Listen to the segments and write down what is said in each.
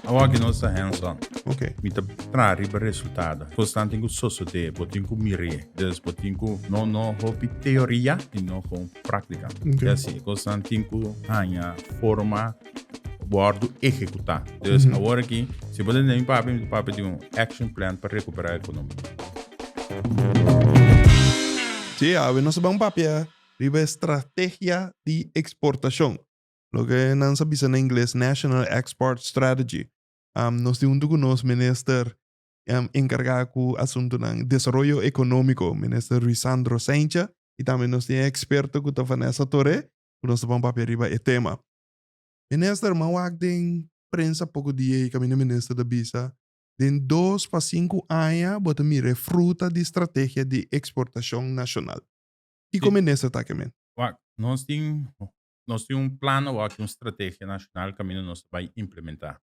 Awor ki nos ta hands on. Okay. Mi ta traha riba resultado. Cos nan tin cu sosode, bo tin cu mir'e. Dus bo tin cu no no hopi teoria y no con practica. Ok. Y asi e cos nan tin cu haña forma wordo ehecuta. Dus awor aki, si bo ta tende mi pape, mi pape tin un action plan pa recupera economia. Dje awe nos a ban papia riba e strategia di exportacion. loke nan sa bisa na ingles National Export Strategy. Um, nos tin huntu ku nos minister um, enkargá ku asuntunan desaroyo ekonómiko, minister Ruisandro Saintja, i tambe nos tin e eksperto ku ta Vanessa Toré, ku nos ta pon papia riba e tema. Minister, m'a wak den prensa poko di ei, kaminda minister ta bisa, den dos pa sinku aña bo ta mira e fruta di strategia di eksportashon nashonal. Kiko minister ta aki men? Wak, nos tin nos tin un plan awor aki un strategia nacional caminda nos ta bay implementa.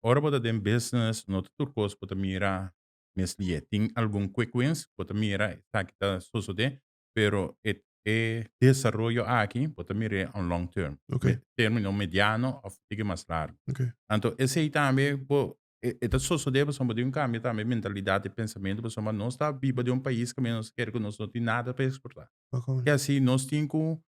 Ora bo ta den business no ta tur cos bo ta mira mes lie. Tin algun quick wins bo ta mira esaki ta sosode pero e e desaroyo aki bo ta mire on long term, Okay. me termino mediano of tigi mas largo. Okay. Anto esey tambe bo e e ta sosode pasobra bo tin un cambio tambe mentalidad y pensamento pasobra nos ta biba den un pais caminda nos ta kere cu nos no tin nada pa exporta. Paco. Ke asi nos tin cu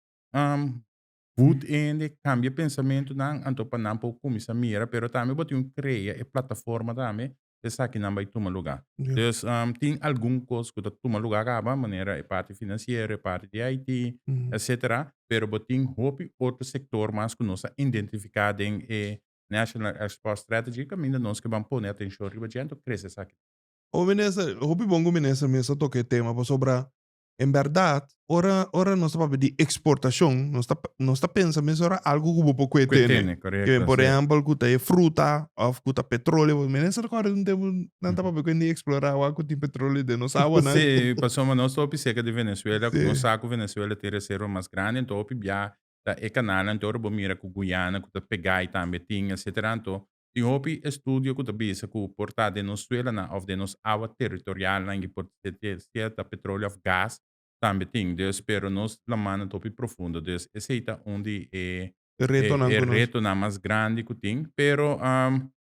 Voet hende cambia pensamentonan anto pa nan por cuminsa mira pero tambe bo tin un crea e plataforma tambe pa esakinan bay tuma lugar. Dus tin algun cos cu ta tuma lugar caba manera e parti financiero, e parti di IT etcetera pero bo tin hopi otro sector mas cu nos a identifica den e National Export Strategy caminda nos ke ban pone atencion riba dje anto crece esaki. Owe Minister, hopi bon cu Minister Mesa toca e tema pasobra En bèrdat, ora, ora nos ta papia di eksportashon, nos ta, nos ta pensa mesora algu ku bo por kue tene. Tene, korekto. Ke por si. ehèmpel ku ta e fruta òf ku ta petroleo. Mi mester rekòrda un tempu nan ta papia kuende di eksplorá awa ku tin petroleo den nos awanan. Sí, pasobra ma nos ta hopi serka di Venezuela, Sí. nos sa ku Venezuela tin e reserva mas grandi, anto hopi biaha ta e kanalnan, anto ora bo mira ku Guyana ku ta pegá ei tambe tin, etcetera, anto Tin hopi estudio ku ta bisa ku por ta den nos suelanan òf den nos awa territorialnan i por ser sierta petroleo òf gas tambe tin, dus pero nos lamannan ta hopi profundo, dus esei ta un di e e retonan mas grandi ku tin, pero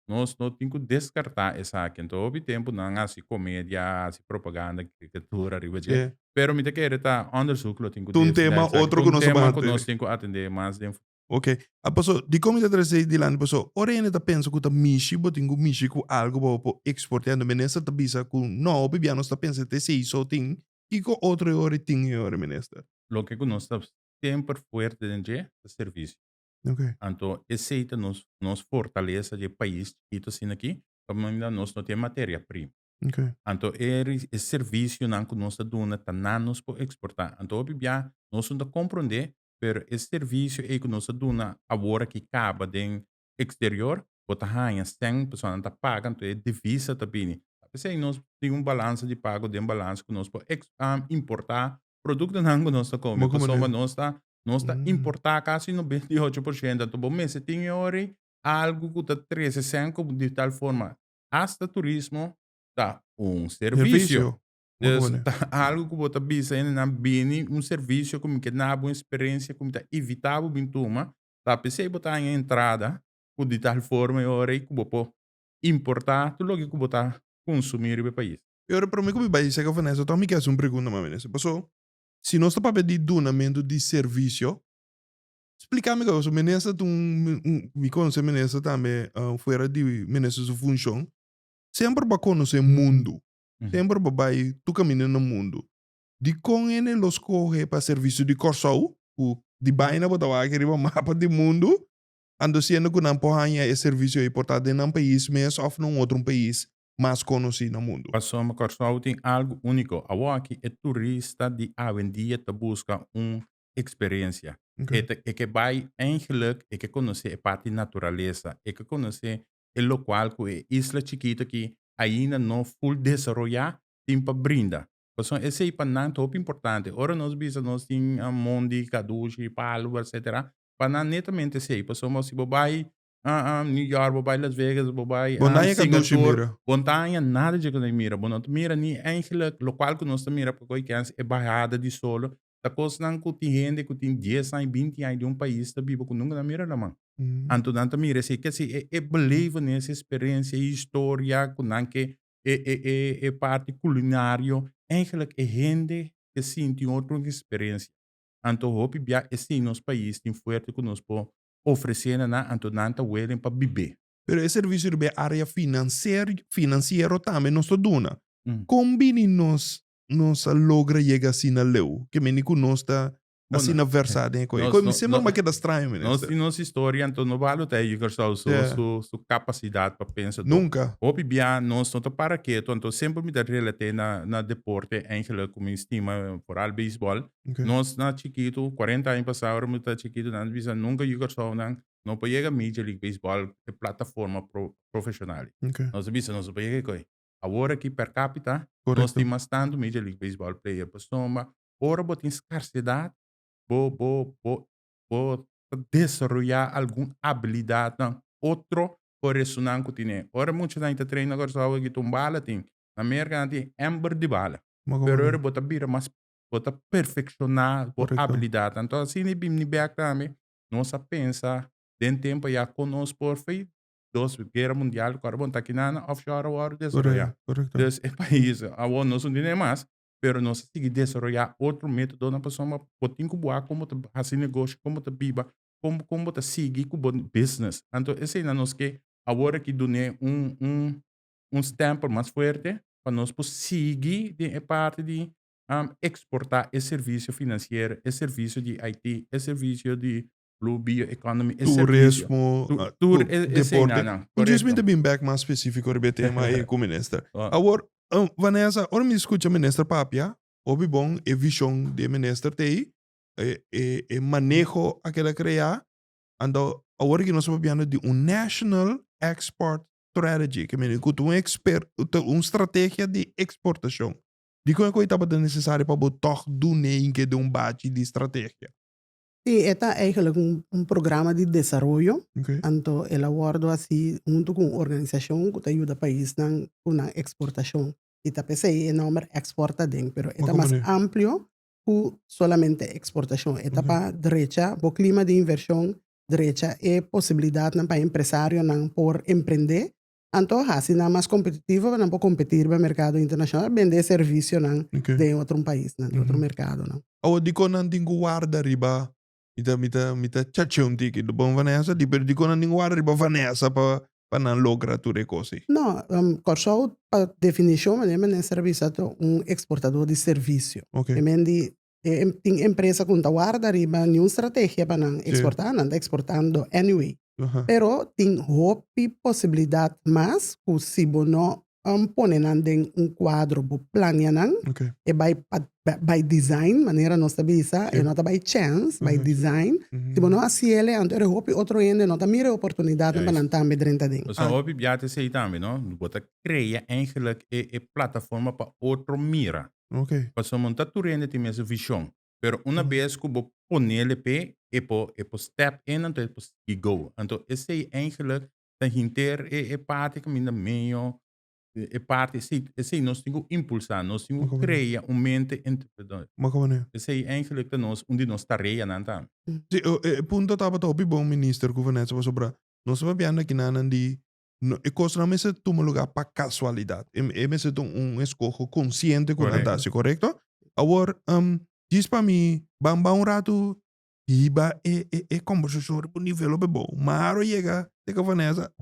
nos no tin ku deskartá esaki anto hopi tempu nan hasi komedia, hasi propaganda, karikatura riba dje, pero mi ta kere ta òndersuk lo tin ku desida esaki, ta un tema ku nos tin ku atendé mas den. Ok, a paso, dikon mi ta trese ei dilanti? Paso, ora hende ta pensa ku ta mishi, bo tin ku mishi ku algu pa bo por eksportea, enton minister ta bisa ku no, hopi bia nos ta pensa te esei so tin. Kiko otro e ora e tin e ora, minister? Loke ku nos ta semper fuerte den dje ta servisio. Ok. Anto esei ta nos nos fortalesa dje pais chikitu asina aki, pasobra nos mira nos no tin e materia prima. Ok. Anto e servisionan ku nos ta duna ta nan nos por eksportá. Anto hopi bia nos no ta komprondé pero e servisio ei ku nos ta duna awor aki kaba den eksterior bo ta haña sèn personanan ta paga anto e divisa ta bini ta p'esei nos tin un balansa di pago den balansa ku nos por eks importá produktonan ku nos ta kome pasobra nos ta nos ta importá kasi nobenta i ocho por shento anto bo mester tin e ora ei algu ku ta trese sèn ku di tal forma hasta turismo ta un servisio. Dus ta algu ku bo ta bisa hende nan bini un servisio ku mi ke duna bo un eksperensia ku mi ta ivitá bo bin tuma, ta p'esei bo ta haña entrada ku di tal forma e ora ei ku bo por importá tur loke ku bo ta konsumí riba e pais. E ora promé ku mi bai serka Vanessa tòg mi ke hasi un pregunta, Mami Vanessa, paso si nos ta papia di dunamentu di servisio, spliká mi gou, paso Menester ta un un mi konosé Menester tambe fuera di Menester su funshon, semper bo a konosé mundu, Semper bo bai tur kaminda na mundu. Dikon hende lo skohe pa servisio di Kòrsou, ku di baina bo ta wak riba mapa di mundu, ando siendo ku nan por haña e servisio ei por ta den nan pais mes òf na un otro pais mas konosí na mundu? Pasobra Kòrsou tin algu úniko. Awor aki e turista di awendia ta buska un eksperensia. E ke bai eigen luk, e ke konosé e parti naturalesa, e ke konosé e lokual ku e isla chikito aki ainda no ful desaroyá tin pa brinda. Pasobra esei pa nan ta hopi importante. Ora nos bisa nos tin mondi, kadushi, palu, etsetera, pa nan netamente esei. Pasobra si bo bai New York, bo bai Las Vegas, bo bai Singapur, bo no ta haña nada dje ku nan e mira. Bo no ta mira ni engelek, lokual ku nos ta mira pa koikens e bahada di solo ta kosnan ku tin hende ku tin dies aña, binti aña den un pais ta biba ku nunka nan mira laman. Anto nan ta mira esei ke si e e belevenis, e sperensia, e historia ku nan ke e e e e parti kulinario eigelik e hende ke sinti un otro sperensia. Anto hopi bia esei nos pais tin fuerte ku nos por ofresé na nan anto nan ta welen pa bibé. Pero e servisio riba e área finanserio finansiero tambe nos ta duna. Kon bini nos nos a logra yega asina leu, ke meni ku nos ta asina versá den e kos. E kos mi siempre mi a keda straño, minister. Nos tin nos historia, anto no baha lo ta Eji Kersou su, su, su kapasidat pa pensa. Anto, Nunka. hopi bia nos no ta para ketu, anto siempre mi ta relat'é na, na deporte, Angela, ku mi stima foral beisbòl. Ok. Nos na chikitu, cuarenta aña pasá ora mi ta chikitu, nan ta bisa nunka Eji Kersounan no por yega Major League Beisbòl, e plataforma pro, profeshonal. Ok. Nos a bisa nos no por yega e kos. Awor aki per capita nos tin mas tanto major league baseball player pasobra ma ora bo tin scarcedad bo bo bo bo ta desaroya algun habilidadnan otro horesonan cu tine ora mucha nan e ta traina Curaçao aki ta un bala tin na Merca nan tin hember di bala pero ora bo ta bira mas bo ta perfecciona bo habilidadnan enton asina e bini bek tambe nos a pensa den tempo ya con nos por dos guerra mundial ku awor ta kina na offshore awor desaroya. Dus e pais awor no su dine mas pero nos a sigui desaroya otro metodonan pasobra bo bo tin ku bo a kon bo ta hasi negoshi kon bo ta biba kon bo kon bo ta sigui ku bo business anto eseinan nos ke awor aki dun'e un un un stempel mas fuerte pa nos por sigui den e parti di eksporta e servicio financiero e servicio di IT e servicio di blue bioeconomy, e servicio. Turismo, Tu- ah, tur cu- e- e deporte. señanan, Mi correcto. djis mi te bin back mas specifico riba e tema e cu minister. Ah. Awor, um, Vanessa, ora mi scucha minister papia, hopi bon e vision di e minister te ey, e, e, e maneho a keda crea, anto awor aki nos ta papiando di un national export strategy, ke meni cu ta un exper, ta un strategia di exportacion. Dikon e cu ey tabata necesario pa bo tog dune hinke den un bachi di strategia? Sí, e ta eigenlijk un un programa di desaroyo, Ok. anto el a wòrdu hasi huntu ku un organisashon ku ta yuda paisnan ku nan eksportashon. I ta p'esei e nòmber Export aden, pero e ta Wak a mas manera. amplio ku solamente eksportashon. E ta pa drecha bo klima di invershon, drecha e posibilidatnan pa empresarionan por emprendé Anto hasi nan mas kompetitivo pa nan por kompeti riba merkado internashonal, bende e servisionan den e otro paisnan, den otro merkadonan. Awa dikon nan tin ku warda riba, mi ta mi ta mi ta chache un tiki bon Vanessa di, pero dikon nan tin ku warda riba Vanessa pa pa nan logra tur e kos ei? No, Kòrsou pa definishon manera mi a mester a bisa ta un eksportadó di servisio. Ke men di tin empresa con ta warda riba ni un estrategia pa nan exporta, sí. nan ta exportando anyway. Uh -huh. Pero tin hopi posibilidad mas cu si bo no um, pone nan den un cuadro, bo plania nan, okay. e by, by design, manera nos ta bisa, sí. e no ta by chance, uh -huh. by design. Uh -huh. Si bo no haciele, anto er hopi otro ende no ta mire oportunidad yes. pa nan tambe drenta den. Pues ah. hopi biate sei tambe, no? Bo ta crea eigenlijk e, e plataforma pa otro mira. Okay. Pasobra bo no ta tur hende tin mester vision. Pero una bes cu bo ponel e pee, e por, e por step in anto e por sigui go. Anto esey eindelijk ta hinter e, e parti e caminda medio, e parti esey, esey nos tin cu impulsa, nos tin cu Macondo. crea un mente entrepreneur. Macondo. Esey eindelijk ta nos, un di nos tareanan ta. Si, e, e punto tabata hopi bon, Minister, cu Vanessa, pasobra nos ta papiando aki nanan di no e cosnan mester tuma lugar pa casualidad. E, e mester ta un escojo consciente cu nan ta haci, correcto? Awor, um, djis pa mi, ban ban un rato hiba e, e, e conversacion riba un nivel hopi bo. Maro yega teke Vanessa,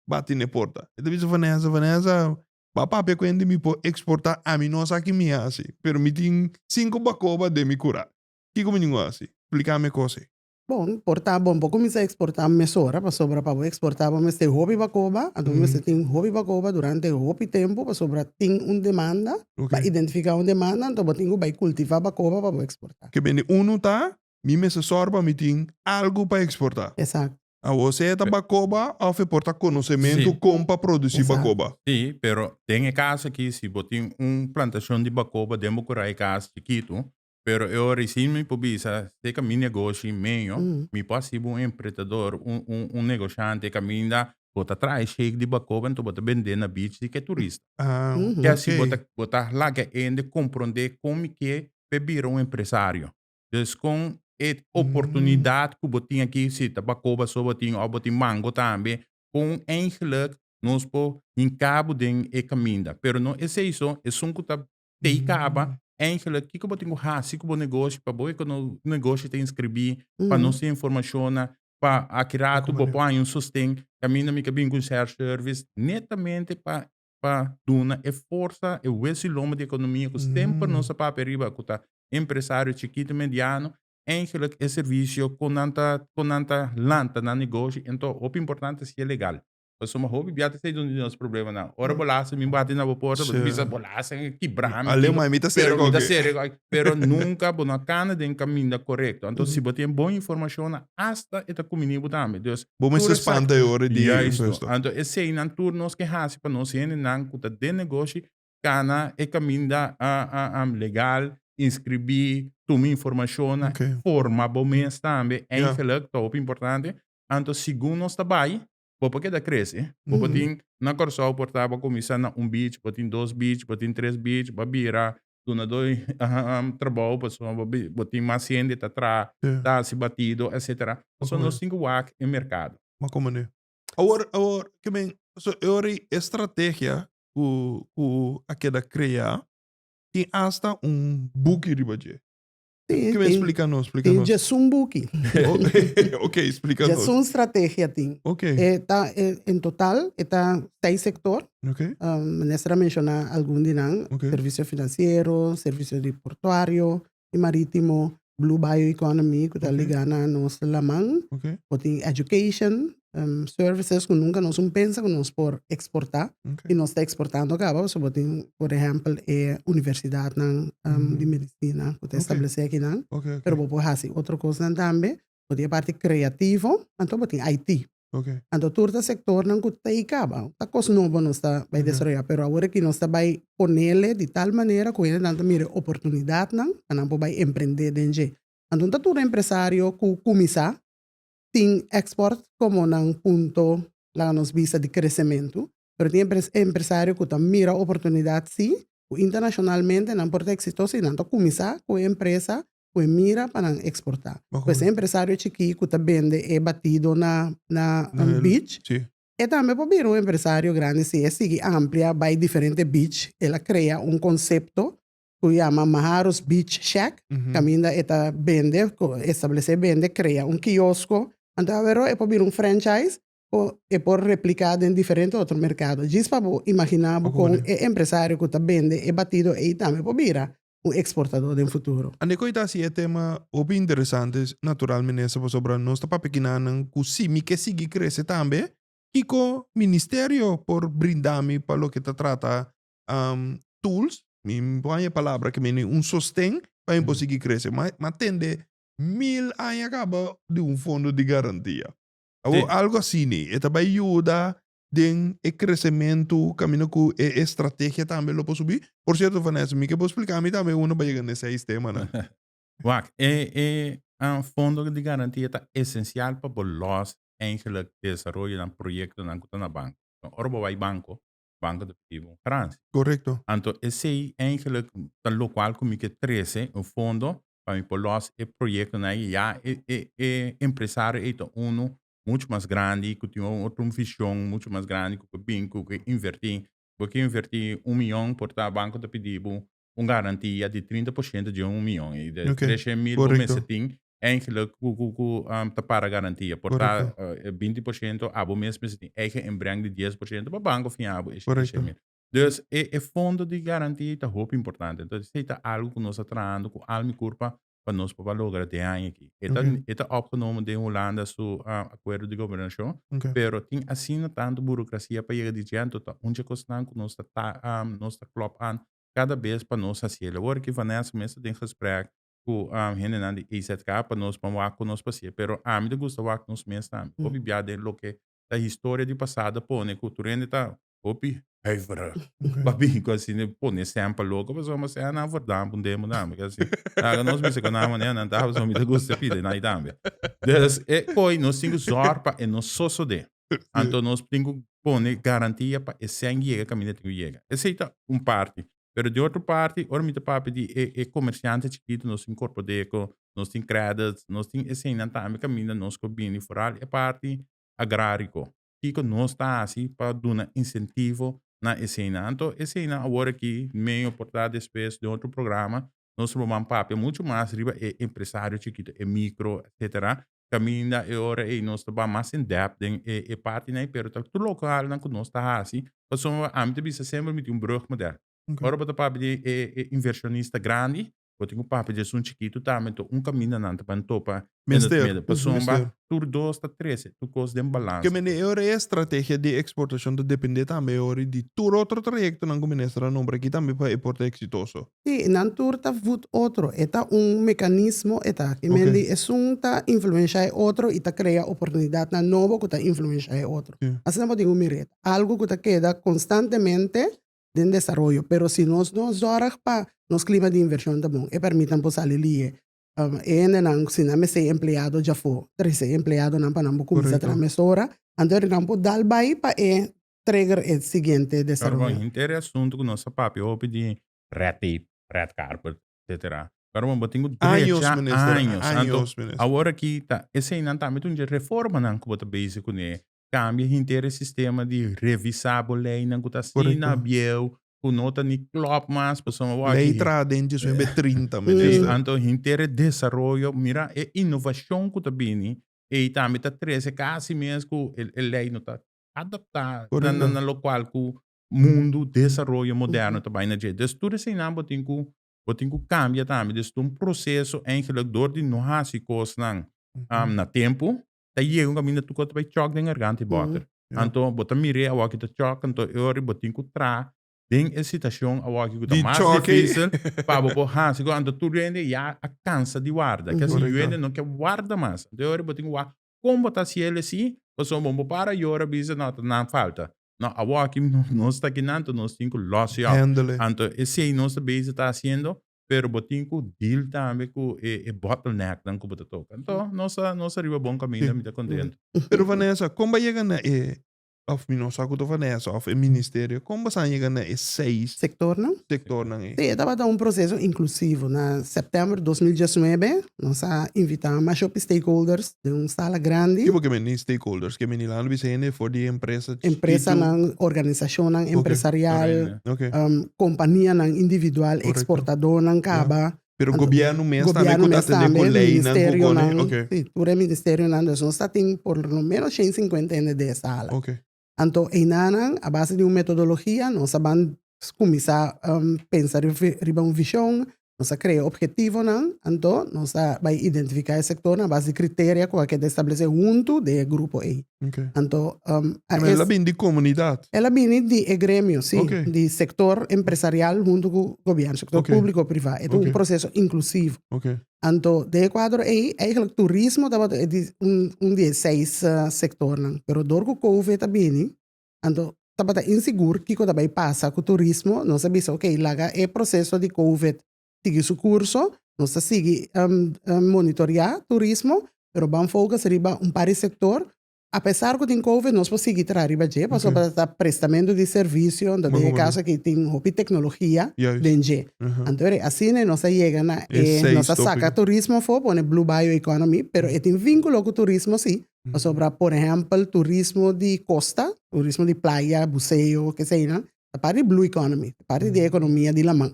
bati n'e porta. E ta bisa Vanessa, Vanessa, ba papia cu hende mi por exporta, ami no sa ki mi haci, pero mi tin cinco bacoba den mi cura. Kico mi tin cu haci? Splica mi e cos ei. Bon, por ta bon bo kuminsá eksportá mesora pasobra pa bo eksportá bo mester hopi bakoba, anto bo mester tin hopi bakoba durante hopi tempu pasobra tin un demanda, a identifiká un demanda, anto bo tin ku bai kultivá bakoba pa bo eksportá. Ke bende unu ta, mi mester sòru pa mi tin algu pa eksportá. Esakto. Awor sea ta bakoba òf e por ta konosementu kon pa produsí bakoba. Sí, pero den e kas aki si bo tin un plantashon di bakoba den bo kurahay kas chikitu, pero e ora isini mi por bisa si mi negoshi meño mi por hasibo un empretador un un un negoshanti e caminda bo ta traha e shake di bacoba enton bo ta bende na beach di ke turista Ah Ujú. y asi bo ta ok. bo ta laga hende compronde con mi ke pe bira un empresario dus con e oportunidad cu bo tin aki si ta bacoba so bo tin of bo tin mango tambe con eindelijk nos por hinca bo den e caminda pero no esey so esun cu ta tei kaba eigenlijk kiko bo tin ku hasi ku bo negoshi pa bo negoshi ta inskribí pa nos tin informashonnan pa aki ratu bo por haña un sosten kaminda mi ka bini ku share service netamente pa pa duna e forsa e hues i lomba di ekonomia ku semper nos ta papia riba ku ta empresario chikitu mediano eigenlijk e servisio ku nan ta ku nan ta lanta na negoshi enton hopi importante si e legal. Pasobra hopi bia ta esei dun di nos problemanan. Ora bo lasa, mi bati na bo porta, bo ta bisa, bo lasa, mi kibra mi. Alema, mi ta sere koke. Sere koke. Pero nunka bo no a kana den kaminda korekto. Anto si bo tin bon informashonnan, asta e ta kuminí bo tambe. Dus, tur esaki. Bo mester spanta e ora di. Juisto. Anto eseinan tur nos ke hasi pa nos hendenan ku ta den negoshi cana e caminda legal, inscribi, tuma informacionnan, forma bo mes tambe, eindelijk, ta hopi importante, anto segun nos ta bay, bo por keda crece, bo por tin, na Curaçao por ta, bo a cuminsa na un beach, bo tin dos beach, bo tin tres beach, bo a bira, duna do trabao, pasobra bo a bo tin mas hende ta traha, ta haci batido, etcetera, so nos tin cu wak e mercado. Awor, awor, kimen, so e ora y e strategia ku ku a keda kreá, tin asta un buki riba dje. Tin, Kimen tin. splika nos, splika Tin nos. djesun buki. Ok, splika nos. Djesun strategia tin. Ok, E ta, e, en total, e ta seis sector. ok, Um, minister a menciona algun di nan. Ok. Servicio financiero, servicio di portuario, di marítimo, blue bioeconomy ku ta ligá na nos laman, bo tin education, services ku nunka nos un pensa ku nos por eksportá i nos ta eksportando kaba pasobra bo tin por ehèmpel e universidatnan di medisina ku ta establesé akinan, pero bo por hasi otro kosnan tambe Bo tin e parti creativo, anto bo tin IT. Okay. Anto tur ta sectornan cu ta ey caba. Ta cos nobo nos ta bay desaroya, pero awor aki nos ta bay ponele di tal manera cu hendenan ta mira e oportunidadnan pa nan por bay emprende den dje. Anto no ta tur empresario cu cuminsa tin export como nan punto, laga nos bisa, di crecemento, pero tin empresario cu ta mira oportunidad si, cu internacionalmente nan por ta exitoso y nan ta cuminsa cu e empresa ku e mira pa nan eksportá. Ku esei empresario chikí ku ta bende e batido na na un beach, e tambe por bira un empresario grandi si e sigui amplia bai diferente beach, el a krea un konsepto ku yama Maharo's Beach Shack kaminda e ta bende, establesé bende, krea un kiosko, anto awe ro e por bira un franchise o e por repliká den diferente otro merkado. Djis pa bo imaginá bo kon e empresario ku ta bende e batido ei tambe por bira un eksportadó den futuro. Ande koe ta hasi e tema hopi interesante natural minister pasobra nos ta papia kinanan ku si mi ke sigui krese tambe kiko ministerio por brindami pa loke ta trata tools mi por haña e palabra ke mi nin un sosten pa mi por sigui krese ma tende mil aña kaba di un fondo di garantia. Awor Sí. algo asini e ta bai yuda den e kresementu kaminda ku e estrategia tambe lo por subí? Por sierto Vanessa, mi ke bo splika mi tambe unda pa yega na e seis temanan. Wak, e e ah, fondo di garantia ta esensial pa bo lòs, eindelijk, desaroyonan, proyektonan ku ta na banko. Ora bo bai banko, banco deportivo un garancia. Correcto. Anto esey eigenlijk ta locual cu mi ke trece un fondo pa mi por los e proyectonan ey. Ya e e e empresario ey ta uno mucho mas grandi cu tin un otro vision mucho mas grandi cu ke bin cu ke inverti. Bo ke inverti un miyon por ta banco ta pidi bo un garantia di trinta por shento dje un mion i de tres shen mil bo mester tin enkele ku ku ku ta para garantia por ta binti por shento abo mes mester tin eigen inbreng di dies por shento pa banko fiá bo e shen mil dus e fondo di garantia ta hopi importante entonces esei ta algu ku nos ta trahando ku al mi kur pa pa nos papá logra den aña aki. E ta, okay. e ta opgenomen den Hulanda su uh, acuerdo di gobernacion, okay. pero tin asina tanto burocracia pa yega di djento, ta un dje cosnan cu nos ta, ta um, nos ta klop aan cada bes pa nos haciele. Hoor ki Vanessa mes ta den gesprek cu um, hendenan di AZK pa nos pa wak cu nos pasie, pero ami ta gusta wak nos mes tambe, mm. obi bia den loke ta historia di pasado pone cu tur hende ta hopi huiverig pa bin cu asina e pone esemple loco pasobra mi a sea nan for dam un demo tambe cu asi laga nos bisa cu nan manera nan ta pasobra mi ta gusta e pide nai tambe dus e coy nos tin cu zorg pa e no sosode anto nos tin cu pone garantia pa e seng yega caminda tin cu yega esey ta un parti Pero di otro parti, ora mi ta papia di e e comerciante chikito, nos tin Corpodeco, nos tin Credits, nos tin eseinan tambe caminda nos cu bini foral e parti agrarico. Kico nos ta haci pa duna incentivo na eseinan? Anto eseinan awor aki, medio por ta despues den otro programa, Nos lo man papia muchu mas riba e empresario chikito, e micro etcetera. Caminda e ora ei nos ta bay mas in depth den e e partinan ei pero ta tur localnan cu nos ta haci. Pasobra ami ta bisa semper mi tin un brug moeder. Ora bo ta papia di e e inversionista grandi, bo tin cu papia di esun chikito tambe. Enton un camindanan ta bay topa Mester, pasobra mester. Pasobra tur dos ta trece, tur cos den balance. Ke mende e ora e estrategia di exportacion ta depende tambe e ora di tur otro trayectonan cu Minister a nombra aki tambe pa e por ta exitoso. Si, nan tur ta voet otro. E ta un mecanismo e ta aki. Oké. Mendi esun ta influencia e otro y ta crea oportunidadnan nobo cu ta influencia e otro. Si. Asina bo tin un mire. Algo cu ta keda constantemente den desaroyo. Pero si nos no zorg pa nos clima di inversion ta bon, e permit nan por sali liye. E hendenan si nan mester empleado dja for trese e empleadonan pa nan bo cuminsa traha mesora anto nan por dal bay pa e trigger e siguiente desaroyo. Pero bon henter e asunto cu nos a papia hopi di red tape, red carpet etc. Pero bon bo tin cu drecha años anto awor aki ta eseinan tambe ta un dje reformanan cu bo ta bezig cune kambia henter e sistema di revisá bo leinan ku ta asina bieu, ku no ta ni klòp mas pasobra bo a gihé. Lei traha den dje suwen be trinta, minister. Sí, anto henter e desaroyo, mira e inovashon ku ta bini, ei tambe ta trese kasi mes ku e lei no ta adaptá na lokual ku mundu desaroyo moderno ta bai na dje. Entonces tur eseinan bo tin ku bo tin ku kambia tambe. Entonces ta un proseso, eigenlijk dor di no hasi kosnan na tempu, ta yega un kaminda tuko ta bai chòk den garganta i bòter. Anto bo ta mir'é awoki ta chòk, anto e ora bo tin ku tra den e situashon awoki ku ta mas difísil pa bo por hasi ku anto tur hende ya a kansa di warda. Ke asi yu hende no ke warda mas. E ora bo tin ku wak kon bo ta hasi el esei pasobra bo no para yora bisa no ta nan falta. No, awoki nos ta kinan anto nos tin ku lòs yob. Anto esei nos ta bese ta hasiendo pero bo tin ku deal tambe ku e e bottlenecknan ku bo ta toka. Enton nos a nos a riba bon kaminda mi ta kontentu. Pero Vanessa, kon bo a yega na e, òf mi no sa ku ta Vanessa òf e ministerio, kon bo a sa yega na e seis Sektornan? sektornan ei? Sí, e tabata un proseso inklusivo. Na sèptèmber dos mil diesnuebe Nos a invitá mashopi stakeholders den un sala grandi. Kico ke men di stakeholders? Ke men di lando bisha hende for di e empresa chikitu? Empresanan, organisashonnan empresarial, kompanianan individual, eksportadónan kaba. Pero gobièrnu mes tambe ku ta tende ku leinan ku kone. Gobièrnu mes tambe, sí. Tur e ministerionan. Nos ta tin por lo ménos shen sinkuenta hende den e sala. Anto einanan, a base di un metodologia, nos a ban kuminsá pensa riba un vishon, nos a krea opgetivonan, anto nos a bai identifiká e sektornan a base di kriteria ku a keda establesé huntu den e grupo ei. Anto, a es. El a bini di komunidat? El a bini di e gremio, si, di sektor empresarial huntu ku gobièrnu, sektor públiko o privá. E ta un proseso inklusivo. Anto den e kuadro ei eigenlijk turismo tabata e di un di e seis sektornan, pero dor ku kouvet a bini, anto tabata insigur kiko ta bai pasa ku turismo, nos a bisa okey laga e proseso di kouvet sigui su kurso, nos ta sigui monitorea turismo pero ban fokus riba un par di sektor Apesar cu tin covid nos por sigui traha riba dje pasobra ta prestamento di servicio anto den e caso aki tin hopi tecnologia den dje. Anto ora e asina nos ta yega na e nos ta saca turismo afo pone blue bio economy pero e tin vinculo cu turismo si pasobra por ehempel turismo di costa turismo di playa buceo keseynan ta parti di blue economy ta parti di e economia di laman.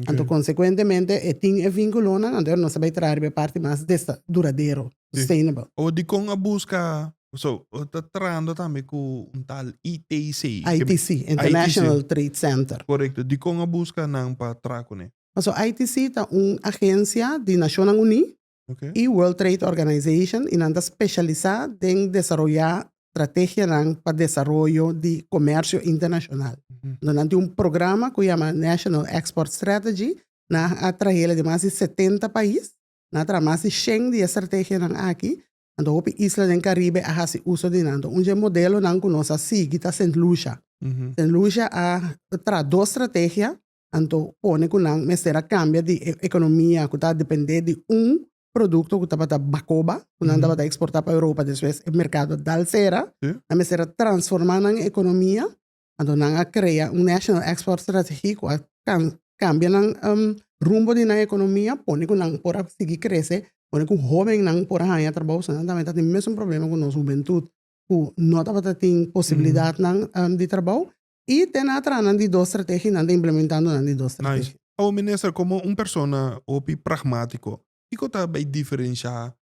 Anto konsekuentemente e tin e vinkulonan anto nos a bai traha riba e parti mas desta duradero, sustainable. Owo dikon a buska, so bo ta trahando tambe ku un tal ITC. ITC, International Trade Center. Korekto, dikon a buska nan pa traha kuné? Paso ITC ta un agensia di Nashonnan Uní y World Trade Organization y nan ta specialisa den desaroya strategianan pa desaroyo di comercio internacional. Entonces nan tin un programa cu yama National Export Strategy, nan a trahela di mas di setenta pais, nan a traha mas di shen di e strategianan aki, anto hopi isla den Caribe a haci uso di nan. Un di e modelonan cu nos a sigui ta Saint Lucia. Saint Lucia a traha dos strategia, Anto pone ku nan mester a kambia di e ekonomia ku ta dependé di un produkto ku tabata bakoba, ku nan tabata eksportá pa Europa despues e merkado a dal sera. Nan mester a transformá nan ekonomia. Anto nan a krea un National Export Strategy ku a kambia nan rumbo di nan ekonomia, pone ku nan por a sigui krese, pone ku hóbennan por a haña trabou, pasobra nan tambe ta tin mesun problema ku nos hubentut ku no tabata tin posibilidatnan di trabou. y te na tra nan di dos strategi nan ta implementando nan di dos strategi. Nice. Awo minister como un persona hopi pragmatico kico ta bay diferencia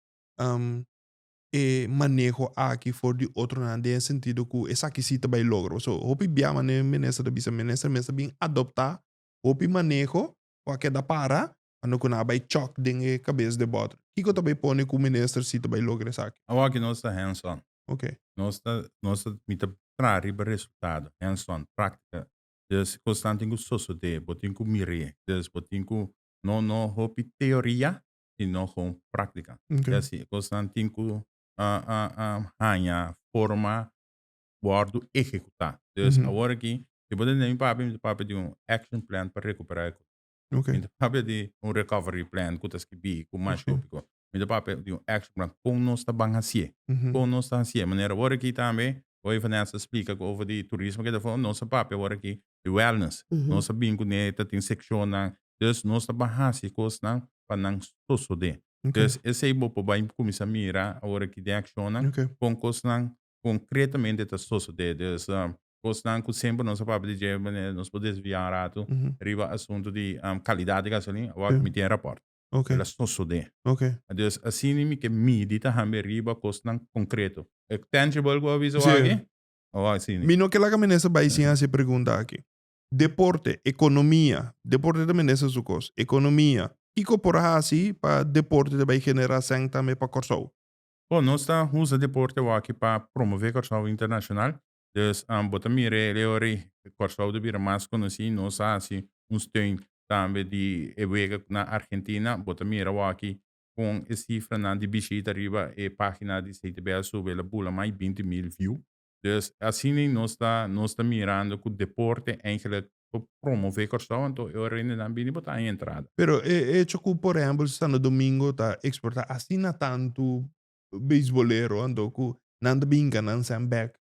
e maneho aki for di otronan den e sentido cu esaki si ta bay logro pasobra hopi bia manera e minister ta bisa minister mes ta bin adopta hopi maneho cu a keda para Ando cu nan a bay chòk den e cabes de bòter. Kico ta bay pone cu minister si ta bay logra esaki? Awo aki nos ta hands on. Ok. Nos ta, nos ta, mi ta traha riba resultado, hands on, practica. Dus cosnan tin cu sosode, bo tin cu mir'e. Dus bo tin cu, no, no hopi teoria, sino gewoon practica. Ok. I asi e cosnan tin cu haña forma wordo ehecuta. Dus, Mhm. aworaki, si bo ta tende mi papia, mi ta papia di un action plan pa recupera e cos. Ok. Mi ta papia di un recovery plan ku ta skibi ku mas shópiko. Mi ta papia di un action plan kon nos ta ban hasié. Mhm. Kon nos ta hasié. Manera wòrdu aki tambe, ku ey Vanessa a splika ku over di turismo ke ta for, nos a papia wòrdu aki di wellness. Mhm. Nos a bin ku ne ta tin sekshonnan. Dus nos ta ban hasi kosnan pa nan sosodé. Ok. Dus esei bo por bai kuminsá mira awor aki den akshonnan Ok. kon kosnan concretamente ta sosode. Dus cosnan cu semper nos a papia di dje, manera nos por desvia un ratu riba asunto di calidad di gasolina, awor mi tin e rapport. Okay. El a sosode. Okay. Dus asina mi ke midi ta hamber riba cosnan concreto. E tangible cu a bisa awor aki? Awor asina. Mi no ke laga minister bay sin haci e pregunta aki. Deporte, economia, deporte ta minister su cos, economia, kico por haci pa deporte ta bay genera cen tambe pa Corsou? Bo, nos ta usa deporte awaki pa promove Kòrsou internashonal. Dus, bo ta mira e leo rei, Kòrsou ta bira mas konosí. Nos a hasi un steun tambe di e wega na Argentina. Bo ta mira awaki kon e sifranan di bishita riba e página di CTBL sube, el a bula mai binti mil view. Dus asina nos ta nos ta mirando cu deporte eigenlijk por promove Curaçao anto e ora rende nan bini bo ta haña entrada. Pero e hecho cu por ehempel Santo Domingo ta exporta asina tantu beisbolero anto cu nan ta binca nan send back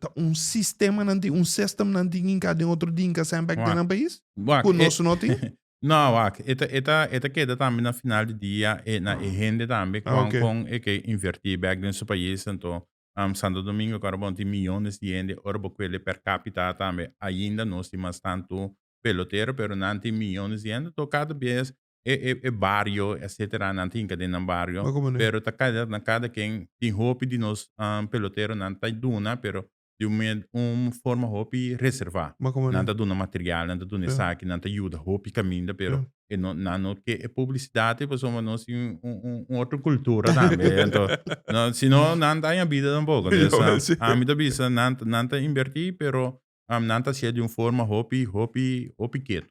ta un sistema nan tin un system nan tin ginca den otro dinca send back den nan pais cu nos no tin? No wak e ta e ta e ta keda tambe na final di dia e na e hende tambe con con e ke inverti back den su pais anto Um Santo Domingo ku Arbon tin miyones di hende ora bo kuele per capita a tambe ainda nos tin mas tantu pelotero pero nan tin miyones di hende to kada bes e e e bario etsetera nan tinka den nan bario pero ta kada na kada ken tin hopi di nos um peloteronan ta duna pero di un me un forma hopi reserva nan ta duna material nan ta duna esaki nan ta yuda hopi kaminda pero e no nan no ke e publicidad pasobra bo nos tin un otro cultura tambe anto si no nan daña bida tampoco entonces ami ta bisa nan nan ta inverti pero nan ta hacia di un forma hopi hopi hopi ketu.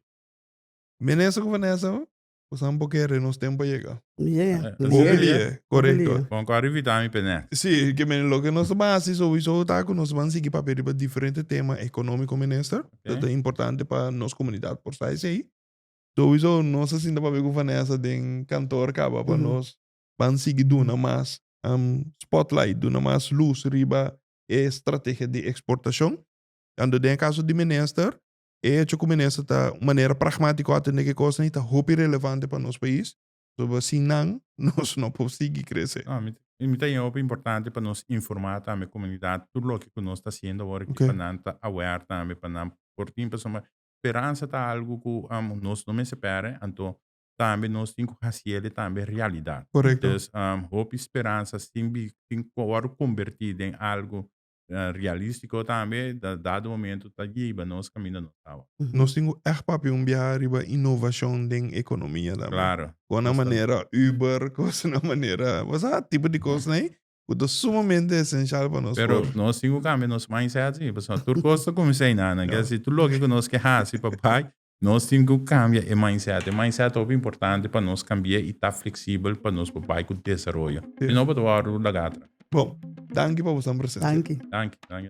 Minister cu Vanessa pues nan bo kere nos tempo a yega. Hopi lie corecto. Con cu a revita mi penet. Si ke mene loke nos ta ban haci sowiso ta cu nos ban sigui papia riba diferente tema economico minister ta importante pa nos comunidad por sta esey. Souizo nos a sinta papia cu Vanessa den kantoor kaba pa nos ban sigui duna mas spotlight, duna mas luz riba e strategia di exportacion. Tando den e caso di minister, e hecho cu minister ta un manera pragmatico atende cu e cosnan y ta hopi relevante pa nos pais, pasobra sin nan nos no por sigui crece. No, mi ta mi ta yega hopi importante pa nos informa tambe e comunidad tur loke cu nos ta haciendo awor aki pa nan ta aware tambe pa nan por tin pasobra speransa ta algu ku amo nos no mester pèrdè, anto tambe nos tin ku hasi el e tambe realidat. Korekto. Dus hopi speransa sin bi sin wòrdu kombertí den algu realístiko tambe ta dado momentu ta yiba nos kaminda nos ta awa. Nos tin ku ègt papia un biaha riba inovashon den ekonomia tambe. Klaro. Kònde manera Uber, kòsnan manera, wos sa tipo di kosnan ei cu ta sumamente esencial pa nos Pero for. nos tin cu cambia nos mindset así, pasobra tur cos ta cuminsa di nan nan. Kier si tur loke cu nos ke haci pa bay, nos tin cu cambia e mindset. E mindset ta hopi importante pa nos cambia y ta flexible pa nos por bay cu desaroyo. Si no bo ta wor ora tur laga atrás. Bon, danki pa bo esnan presente. Danki. Danki, danki.